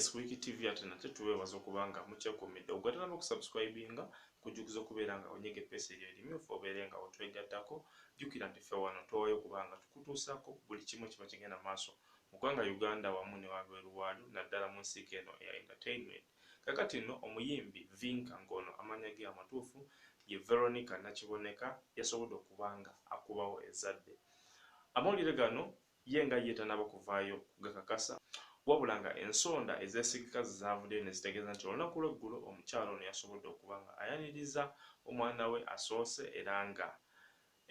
yes wiki tv ate nate tubeebaza okuba nga mukyekumidde okugatana n'okusubscribinga kujjukiza okubeera nga onyega epeesa eryo erimyufu obeere nga otwegattako jjukira nti ffe wano twawayo okuba nga tukutuusaako buli kimu kiba kigenda maaso mu ggwanga uganda wamu ne wabweru waalyo naddala mu nsiika eno eya entertainment Kakati nno omuyimbi Vinka ng'ono amannya ge amatuufu ye Veronica Nakiboneka yasobodde okuba nga akubawo ezzadde. Amawulire gano ye nga ye tanaba kuvaayo kugakakasa wabula nga ensonda ezesigika zezavuddeyo nezitegeeza nti olunaku lw'eggulo omukyala ono yasobodde okuba nga ayaniriza omwana we asoose era nga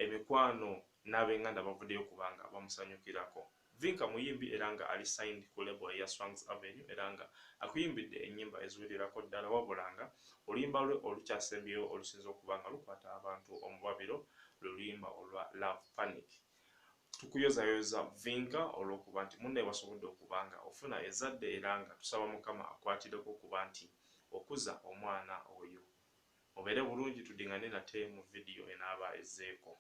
Emikwano n'abenganda bavuddeyo okuba nga bamusanyukirako. Vinka muyimbi era nga ali signed ku label eya Swangz Avenue era nga akuyimbidde ennyimba eziwererako ddala wabula nga oluyimba lwe olukyasembyeyo olusinze okuba nga lukwata abantu omubabiro lwe luyimba olwa Love Panic. Tukuyozayoza Vinka olw'okuba nti munne wasobodde okuba nga ofuna ezzadde era nga tusaba Mukama akwatireko okuba nti okuza omwana oyo. Mubeere bulungi tudingane nate mu video enaaba ezzeeko.